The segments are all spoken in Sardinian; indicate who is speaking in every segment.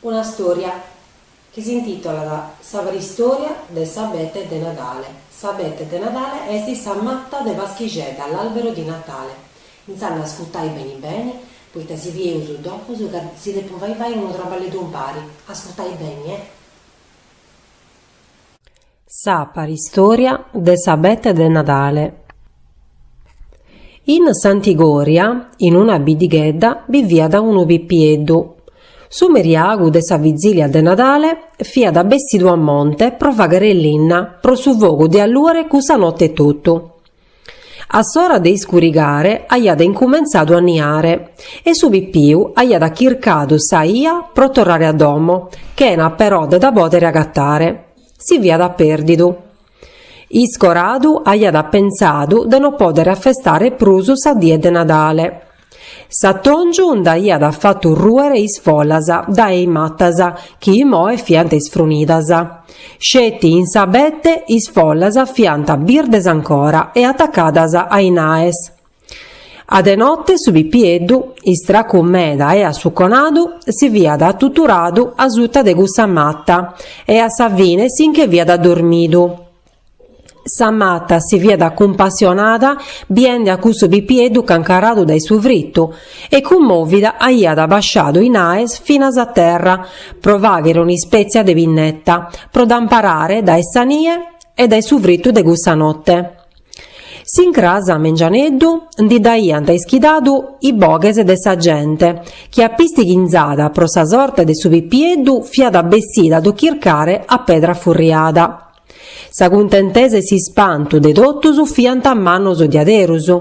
Speaker 1: Una stòria chi s'intitolat Sa paristòria de s'abete de Nadale S'abete de Nadale est sa mata de Paschixedda, l'albero di Natale. Intzand'a ascurtai beni beni, poita si bieus doppus ca si depu fai fai unu traballeddu umpari, ascurtai beni, eh!
Speaker 2: Sa paristòria de s'abete de Nadale. In Santigòria, in una biddighedda, biviat unu pipieddu. Su meriagu de sa vizìlia de Nadale fiat bessidu a monte pro fàghere linna pro su fogu de allùere cussa note etotu. A s'ora de iscurigare aiat incumentzadu a niare e su pipiu aiat chircadu sa 'ia pro torrare a domo, chena però de dda pòdere agatare. Si fiat pèrdidu. Iscoradu aiat pentzadu de no pòdere afestare prus sa die de Nadale. S'atòngiu nd'aiat fatu rùere is follas dae is matas chi imoe fiant isfrunidas. Sceti in s'abete is follas fiant birdes ancora e atacadas a i naes. A de note su pipieddu, istracu meda e assuconadu, si fiat atuturadu asuta de cussa mata e a sa fine si nche fiat addormidu. Sa mata si fiat cumpassionada biende a cussu pipieddu cancaradu dae su fritu e cummòvida aiat abasciadu i naes finas a terra pro fàghere un'ispètzia de pinneta pro dd'amparare dae sa nie e dae su fritu de cussa note. S'incras a mengianeddu ndi dd'aiant ischidadu is boghes de sa gente chi apistighinzada pro sa sorte de su pipieddu fiat bessida a ddu chircare a pedra furriada. Sa cuntentesa e s'ispantu de totus fiant mannos diaderus.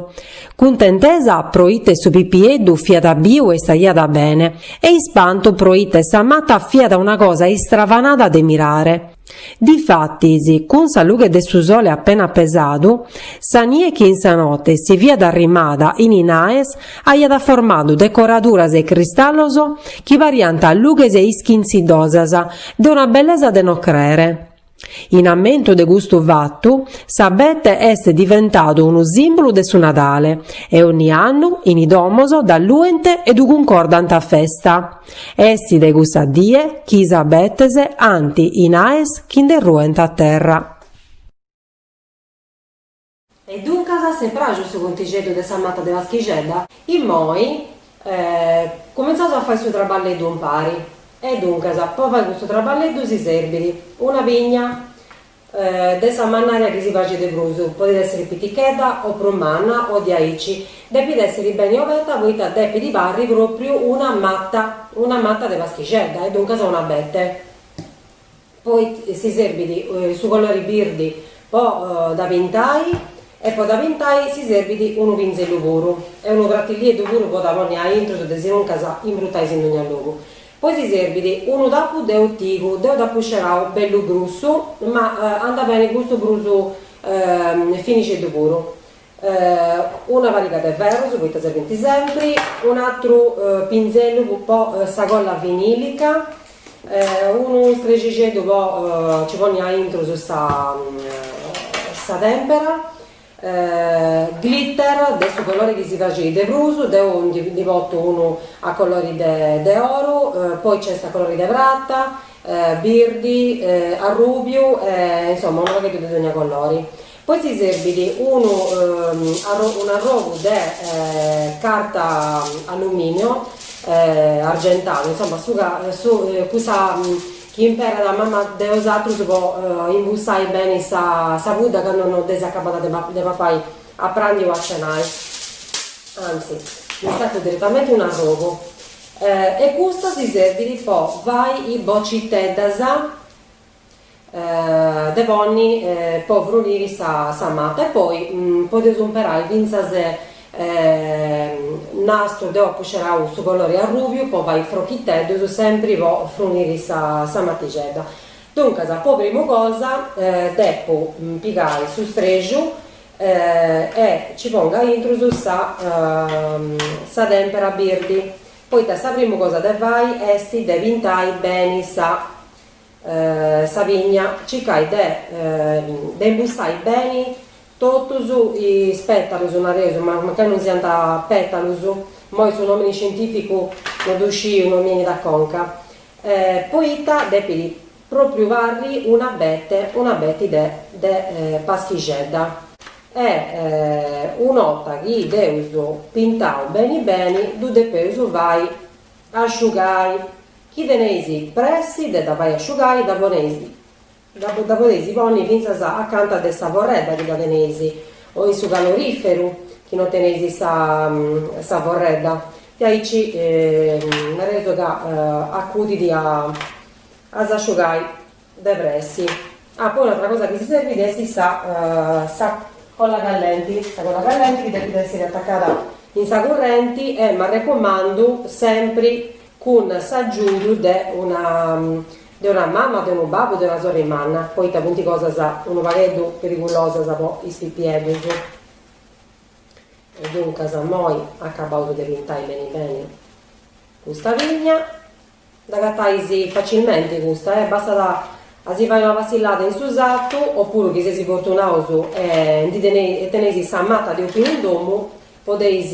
Speaker 2: Cuntentesa pro ite su pipieddu fiat biu e istaiat bene, e ispantu pro ite sa mata fiat una cosa istravanada de mirare. Difatis, cun sa lughe de su sole appena pesadu, sa nie chi in sa note si fiat arrimada in i naes aiat formadu decoraduras e cristallos chi pariant lughes ischintzidosas de una bellesa de no crere. In ammentu de custu fatu, s'abete est diventadu unu sìmbulu de su Nadale e onni annu in i domos dd'alluent e ddu cuncordant a festa. Est dae cussa die chi is abetes ant i naes chi nde ruent a terra.
Speaker 1: E duncas s'est pràxiu su contixeddu de sa mata de Paschixedda. Immoi cumentzaus a fai su traballeddu umpari. E duncas, po fai custu traballeddu si serbit una pigna de sa mannària chi si praxit de prus, podit èssiri pitichedda o prus manna o diaici, depit èssiri beni oberta poita depit parri pròpriu una mata, una mata de Paschixedda e duncas un'abete. Poi si serbit su colori birdi po dda pintai e po dda pintai si serbit unu pinzellu puru e unu pratillieddu puru po dda ponni aintru desinuncas imbrutais in dogna logu. Poi si serbit unu tapu de otigu, deu dd'apu scerau bellu grussu ma andat beni custu prus finixeddu puru Una pariga de ferrus poita serbint sempri, un'atru pinzellu po sa colla vinilica, unu strexixeddu po ci ponni aintru sa sa tempera, glitter de su colori chi si praxit de prus, deu ndi portu unu a colori de oru, poi nc'est a colori de prata, birdi, arrubiu e insoma unu pagheddu de dogna colori. Poi si serbit unu un'arrogu de carta alluminio argentada, insomma su ca cussa chi imperat mama de 'osatrus po imbussai beni sa pudda candu no dd'eis acabbada de papai a pràndiu o a cenai, anzi ndi stacu direttamenti un arrogu e custa si serbit po fai is bociteddas de ponni po fruniri sa mata e poi podeus umperai fintzas nastru, deu apu scerau su colori arrubiu po fai frochiteddus sempri po fruniri sa matixedda, duncas po primu cosa depu pigai su strexu e ci pongu aintru sa sa tempera birdi, poita sa primu cosa de fai esti de pintai beni sa sa pigna, circai de de imbussai beni totus is pètalus, nareus, mancai non siant pètalus, imoi su nòmini scientìficu no ddu sciu, no mi 'enit a conca, poita depit pròpriu parri un'abete, un'abeti de de paschixedda e una 'orta chi dd'eus pintau beni beni ddu depeus fai asciugai Chi teneis pressi de dda fai asciugai dda poneis, dda podeis ponni fintzas acanta de sa forredda chi dda teneis o in su caloriferu chi no teneis sa forredda diaici nareus ca acudit a s'asciugai De pressi. Ah, poi un'atra cosa chi si serbit est sa sa colla callenti, sa colla callenti chi depit essiri atacada in sa currenti e m'arrecumandu sempri cun s'agiudu de una de una mama, de unu babbu, de una sorri manna, poita funt cosas unu pagheddu perigulosas po is pipieddus. E duncas, imoi acabaus de pintai beni beni custa pigna Dd'agatais facilmenti custa e bastat a si fai una passillada in su sartu opuru chi seis fortunaus e ndi teneis e teneis sa mata de opinu in domu podeis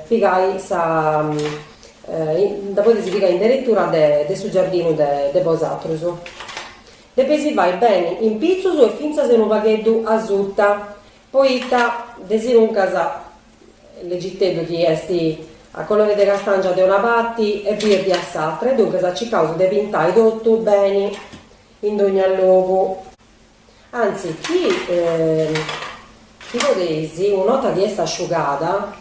Speaker 1: pigai sa dda podeis pigai in deretura de su giardinu de bosatrus. Depeus fai beni in pitzus e fintzas unu pagheddu asuta poita de sinuncas Lègiteddu chi est a colore de castàngia de una parti e birdi a s'atra e duncas circaus de pintai totu beni in dogna logu. Anzi, chi podeis, una 'orta chi est asciugada,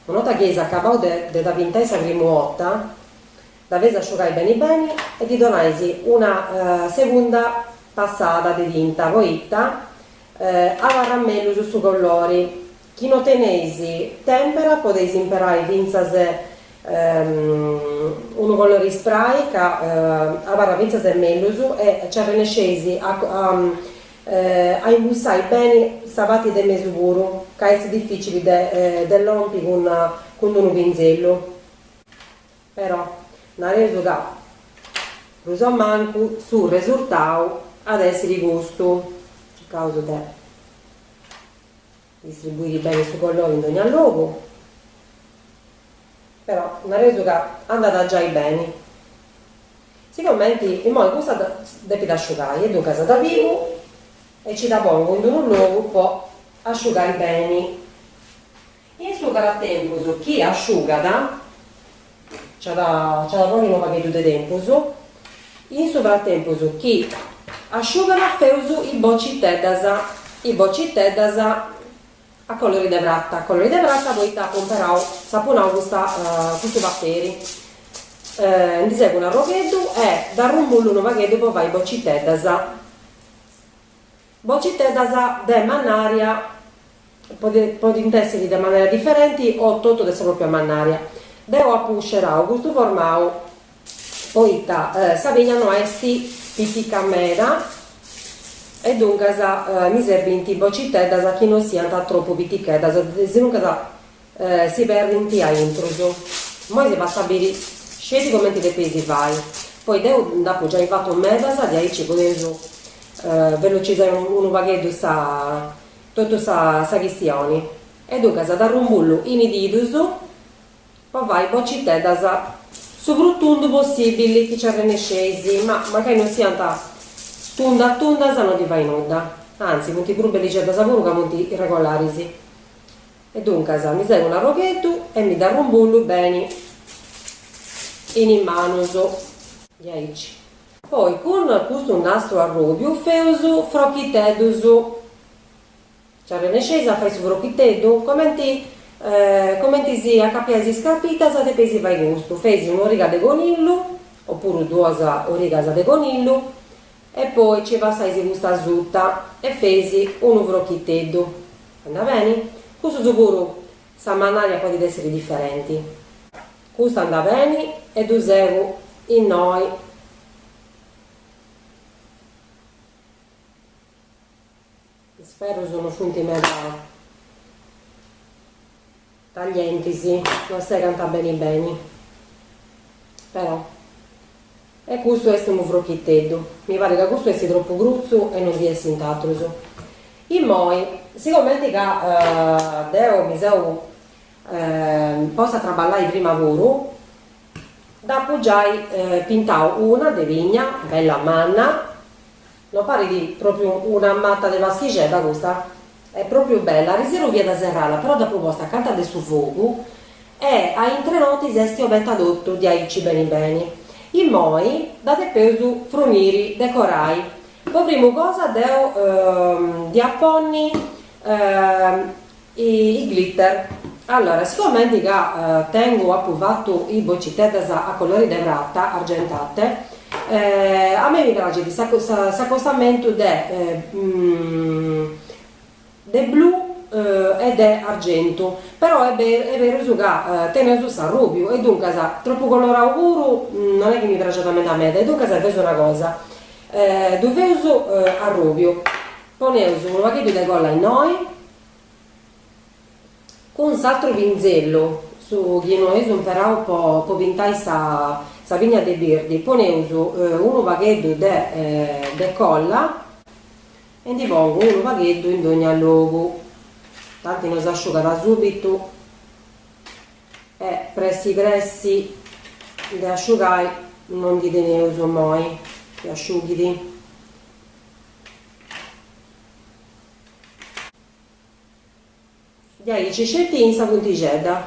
Speaker 1: una 'orta chi eis acabau de de dda pintai sa primu 'orta, dda feis asciugai beni beni e ddi donais una segunda passada de tinta poita abarrat mellus su collori Chi no teneis tèmpera podeis imperai fintzas unu colori spray ca abarrat fintzas e mellus e ci arrennesceis a imbussai beni sa parti de mesu puru ca est dificili de lompi cun d'unu pinzellu. Però nareus ca prus o mancu su resurtau at a èssiri custu, circaus de Distribuiri beni su collori in dogna logu. Però nareus ca andat giai beni. Siguramenti immoi cussa depit asciugai e duncas dda pigu e nci dda pongu in d'unu logu po asciugai beni. In su fratempus chi asciugat. Ci at a poni unu pagheddu de tempus, in su fratempus chi asciugat feus is bociteddas, is bociteddas a colori de prata, a colori de prata poita apu imperau, s'apu nau custa custu paperi, ndi segu unu arrogheddu e dd'arrumbullu unu pagheddu po fai is bociteddas. Bociteddas de mannària podint èssiri de manera diferenti o totu de sa pròpia mannària. Deu apu scerau custu formau poita sa pigna no est pitica meda e duncas mi serbint bociteddas chi no siant tropu piticheddas, sinuncas Si perdint a intrus. Immoi si fatzu a biri sceti comenti depeis fai, poi deu nd'apu giai fatu medas diaici podeus velocizai unu pagheddu sa totu sa sa chistioni. E duncas dd'arrumbullu in is didus po fai bociteddas su prus tundas possibili chi ci arrennesceis, ma mancai non siant tundas tundas non ddi fait nudda, anzi funt prus bellixeddas puru ca funt irregolaris. E duncas mi segu un'arrogheddu e mi dd'arrumbullu beni in is manus. Diaici. Poi cun custu nastru arròbiu feus frochiteddus. Nci arrennesceis a fai su frochiteddu? Comenti, comenti si acapiais is scarpitas depeis fai custu, feis un'origa de conillu, o puru duas origas de conillu, E poi nci passaisi custa suta e feisi unu frochiteddu. Andat beni? Custus puru sa mannària podit essiri diferenti. Custa andat beni e ddu segu innoi. Is ferrus no funt meda taglientis, no segant beni beni, però. E custu est unu frochiteddu. Mi parit ca custu est tropu grutzu e no ndi essint atrus. Immoi, sigomenti ca deu mi seu posta a traballai prima puru, dd'apu giai pintau una de pigna, bella manna No parit pròpriu una mata de paschixedda custa? Est pròpriu bella, arisiru fiat serrada però dd'apu posta acanta de su fogu e a in tres notis est oberta totu diaici beni beni. Immoi dda depeus fruniri, decorai. Po primu cosa deu dia ponni I glitter. Allora, sigomente ca tengu, apu fatu is bociteddas a colori de prata argentate, a mei mi praxit s'acostamentu de de blu e de argentu, però est est berus ca teneus s'arrubiu e duncas tropu colorau puru non est chi mi praxat meda meda e duncas feus una cosa, ddu feus arrubiu, poneus unu pagheddu de colla innoi Cun s'atru pinzellu, su chi no eus imperau po po pintai sa sa pigna de birdi, poneus unu pagheddu de de colla e ndi pongu unu pagheddu in dogna logu, tanti no s'asciugat subitu e pressi pressi de asciugai no ndi teneus immoi chi asciughidi. Diaici sceti in sa puntixedda,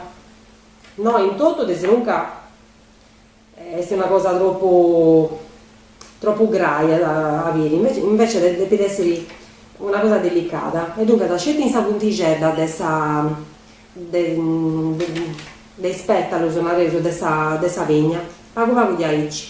Speaker 1: no in totu desinunca, est una cosa tropu tropu grai a a biri, invece depit essiri una cosa delicada e duncas sceti in sa puntixedda de sa de de is petalus nareus de sa de sa pigna, pagu pagu diaici.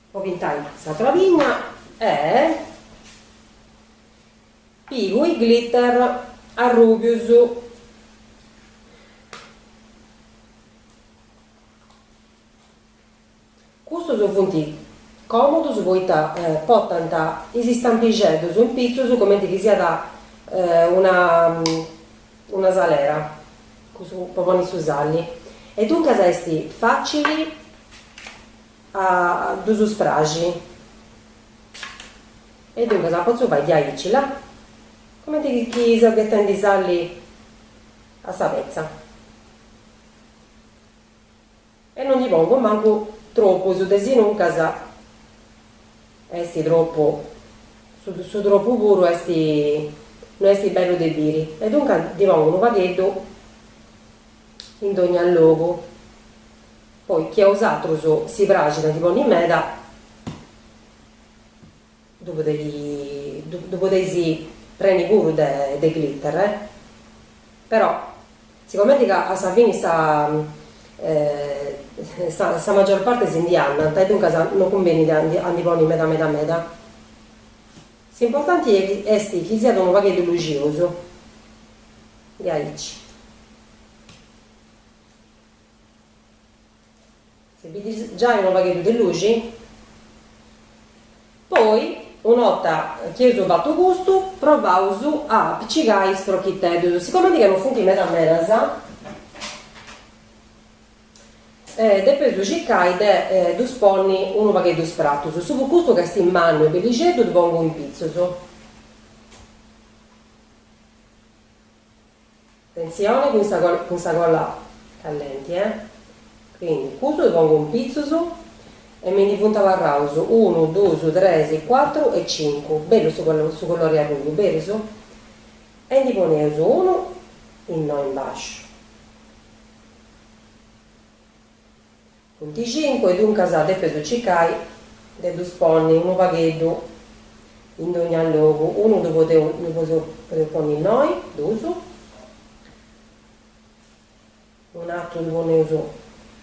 Speaker 1: Po pintai s'atra pigna e pigu is glitter arrubius. Custus funt comodus poita portant is istampixeddus in pitzus cumenti chi siat una una salera cussa po ponni su salli e duncas est facili A ddus spraxi. E duncas a potzu fai diaici là, comenti chi seu ghetendi sali a sa petza. E no ndi pongu mancu tropus desinuncas esti tropu, su tropu puru esti, no esti bellu de biri. E duncas ndi pongu unu pagheddu in dogna logu. Poi chi a bosatrus si praxit a ndi ponni meda ddu podeis preni puru de glitter però sigomenti ca a sa fini sa sa maggior parte si ndi andant e duncas non cumbenit a ndi ponni meda meda meda s'importanti est chi siat unu pagheddu luxiosu diaici. Si bidis giai unu pagheddu de luxi. Poi, una 'orta chi eus fatu custu, provaus a apicigai is prochiteddus, sicomente ca non funt meda medas, depeus ddu circai de ddus ponni unu pagheddu spratus, su pu custu ca est mannu e bellixeddu ddu pongu in pitzus. Atentzione cun sa cun sa cola callenti eh quindi custu ddu pongu in pitzus e mi ndi funt abarraus unu dus tres cuatru e cincu bellu su collu su collori arruju bellu e ndi poneus unu innoi in basciu Funt cincu e duncas depes circai de ddus ponni unu pagheddu in dogna logu, unu ddu podeus ponni innoi, duus, un'atru ddu poneus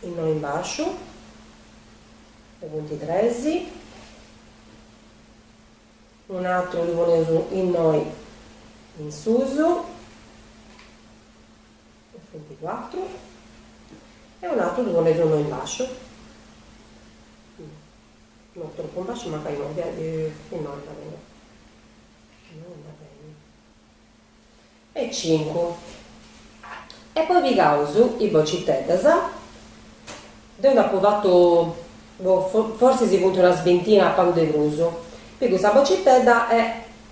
Speaker 1: innoi in basciu e funt tres, un'atru ddu poneus innoi in susu. Funt cuatru e unu atru ddu poneus in basciu, no tropu in basciu mancai no andat beni, no andat beni, e cincu, e poi pigaus is bociteddas, deu nd'apu fatu boh forsis si funt unas bintina pagu de prus, pigu sa bocitedda e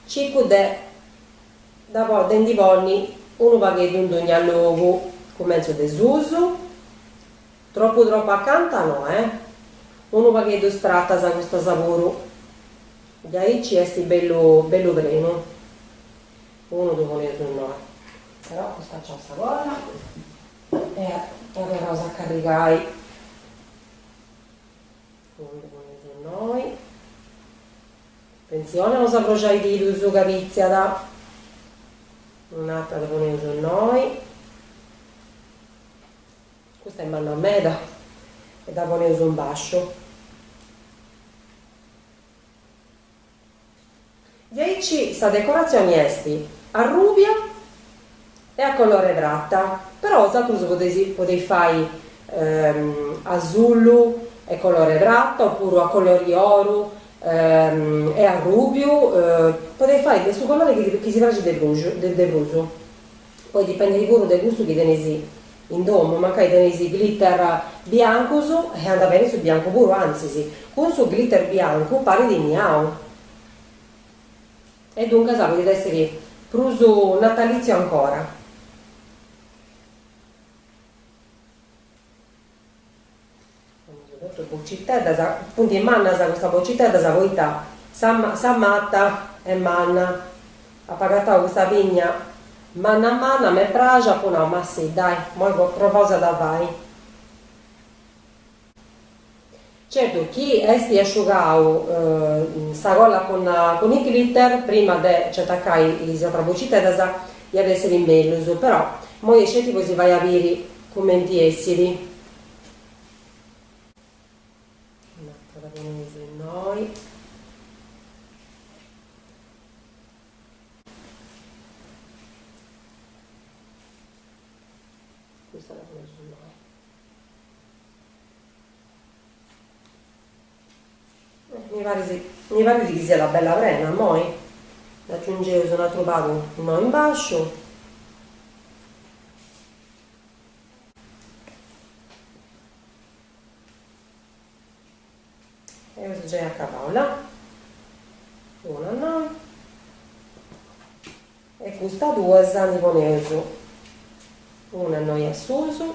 Speaker 1: circu de De nd'i ponni unu pagheddu in dogna logu, cumentzu de susu, tropu tropu acanta no eh, unu pagheddu stratas custas puru, diaici est bellu bellu prenu, unu ddu poneus innoi, però custa nc'at sa cosa e dda torraus a carrigai, unu ddu poneus innoi. Atentzione a no s'abruxai is didus ca pitziat. Un'atra dda poneus innoi. Custa est manna meda e dda poneus in basciu. Diaici sa decoratzioni est arrubia e a colore prata, però bosatrus podeis fai azullu e colore prata opuru a colori oru e arrubiu, podeis fai de su colore chi ti chi si praxit de prus de prus, poi dipendit puru de cussu chi teneis in domu, mancai teneis glitter biancus e andat beni su biancu puru, antzis cun su glitter biancu parit niau. E duncas podit èssiri prus natalìtziu ancora. Custas bociteddas, funt mannas custas bociteddas poita sa sa mata est manna. Apu agatau custa pinnya manna manna, m'est praxia, apu nau, ma sì, dai, imoi provaus a dda fai. Certu chi essit asciugau sa colla cun is glitter prima de nci atacai is atras bociteddas iat essiri mellus, però imoi est sceti po si fai a biri cumenti essit. Mi parit mi parit chi siat bella prena immoi dd'agiungeus un atru pagu innoi in basciu Eus gei acabau la. Una innoi. E custas duas ndi poneus una innoi a susu.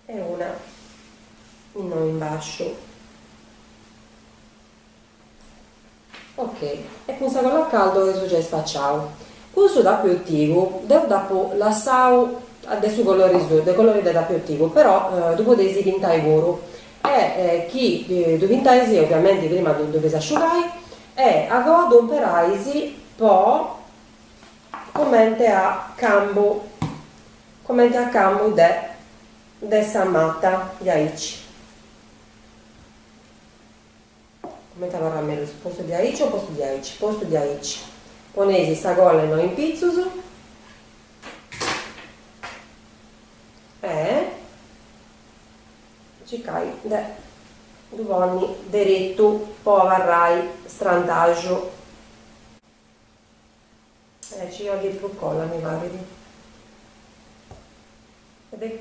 Speaker 1: E una innoi in basciu. Ok. E cun sa cola a caldo eus giai spaciau. Cun su tappu 'e otigu deu dd'apu lassau de su colori suu, de colori de tappu 'e otigu, però ddu podeis pintai puru. E chi ddu pintais oviamenti prima ddu ddu feis asciugai e a goa ddu imperais po cumenti a cambu, cumenti a cambu de de sa mata diaici. Comente abarrat mellus postu di aici o postu di aici? Postu di aici. Poneis sa colla innoi in pitzus e circai de ddu ponni deretu po abarrai strantaxu. Ci bolit prus cola mi parit.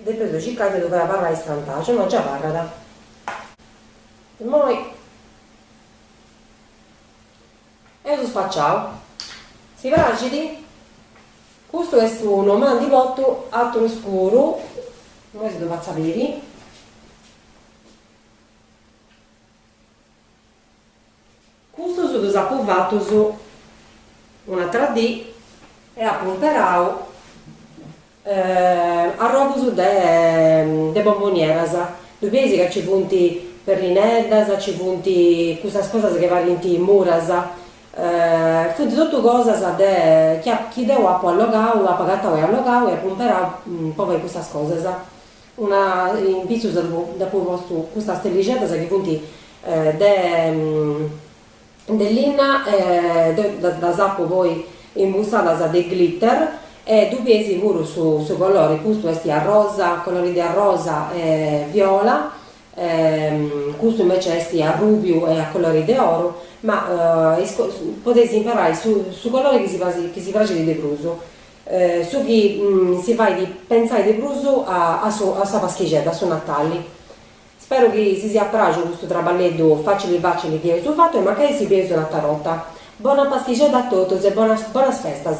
Speaker 1: Depeus de circai de ddu fai abarrai istrantaxu, no gei abarrat. Immoi eus spaciau. Si praxit? Custu est unu, ma ndi portu aturus puru, immoi si ddu fatzu a biri. Custus ddus apu fatus un'atra dì e apu imperau arrogus de bombonieras, ddu bieis ca nci funt perrineddas, nci funt custas cosas chi parint muras, funt totu cosas de chi deu apu allogau, apu agatau e allogau e apu imperau po fai custas cosas Una in pitzus dd'apu postu custas stellixeddas chi funt de de linna e deu ddas apu poi imbussadas de glitter e ddu bieis puru su su colori, custu est arrosa, colori de arrosa e viola e custu invece est arrubiu e a colori de oru, ma podeis imperai su su colori chi si praxit de prus Su chi si fait pentzai de prus a a sa Paschixedda, a su Natali. Speru chi si siat praxiu custu traballeddu facili facili chi eus fatu e mancai si bieus un'atra borta. Bona Paschixedda a totus e bonas bonas festas.